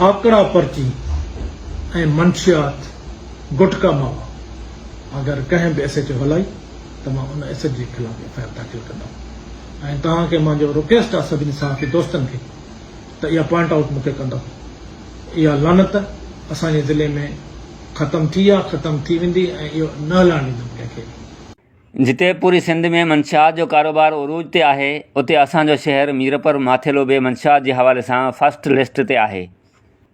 آکڙا پرچي ۽ منشيات گٽڪا ماوا اگر ڪنهن به ايسيٽ هلائي ته مان ان ايسيٽ جي خلاف ايف آء آر داخل ڪندم ۽ توهان کي منهنجو رڪيسٽ آهي سڀني صحافي دوستن کي ته اها پوائنٽ آئوٽ مون کي ڪندو اها لعنت اسان جي ضلعي ۾ ختم ٿي آهي ختم ٿي ويندي ۽ اهو نه هلڻ ڏيندم ڪنهن کي به. جتي پوري سنڌ ۾ منشيات جو ڪاروبار عروج تي آهي اتي اسان جو شهر ميرپر ماٿيلو به منشيات جي حوالي سان فرسٽ لسٽ تي آهي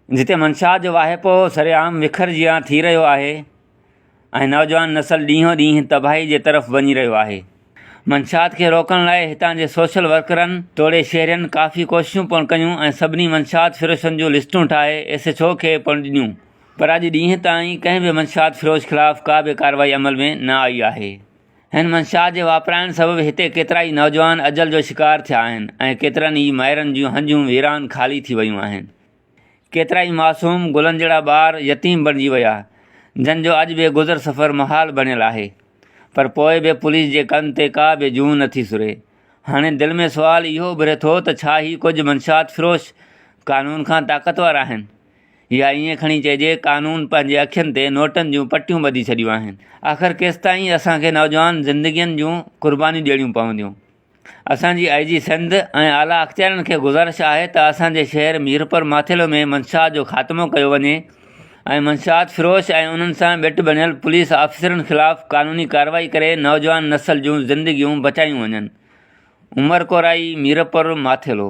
جتي منشيات جو واهپو سرعام وکر جيان ٿي رهيو آهي ۽ نوجوان نسل ڏينهون ڏينهن تباهي جي طرف وڃي رهيو آهي منشيات کي روڪڻ لاء هتان جي سوشل ورڪرن توڙي شهرين ڪافي ڪوششون پڻ ڪيون ۽ سڀني منشيات فروشن جون لسٽون ٺاهي ايس ايڇ او کي پڻ ڏنيون پر اڄ ڏينهن تائين ڪنهن به منشيات فروش خلاف ڪا به ڪارروائي عمل ۾ نه آئي آهي. هن منشيات جي واپرائڻ سبب هتي ڪيترائي نوجوان اجل جو شڪار ٿيا آهن ۽ ڪيترن ئي مائرن جون هنجون ويران خالي ٿي ويون آهن. ڪيترائي معصوم گلن جهڙا ٻار يتيم بڻجي ويا جن جو اڄ به گذر سفر محال بڻيل آهي پر پوء به پوليس جي ڪن تي ڪا به جون نه ٿي سري. هاڻي دل ۾ سوال اهو اڀري ٿو ته ڇا هي ڪجهه منشيات فروش قانون کان طاقتور آهن؟ يا ائين کڻي چئجي قانون پنهنجي اکين تي نوٽن جون پٽيون ٻڌي ڇڏيون آهن. آخر ڪيستائين اسان کي نوجوان زندگين جون قربانيون ڏيڻيون پونديون. اسان جي آء جي سنڌ ۽ اعليٰ اختيارين کي گذارش آهي ته اسان جي شهر ميرپور ماٿيلو ۾ منشيات جو خاتمو ڪيو وڃي ۽ منشيات فروش ۽ انهن سان ٻيٽ بڻيل پوليس آفيسرن خلاف قانوني ڪارروائي ڪري نوجوان نسل جون زندگيون بچايون وڃن عمر ڪورائي ميرپور ماٿيلو.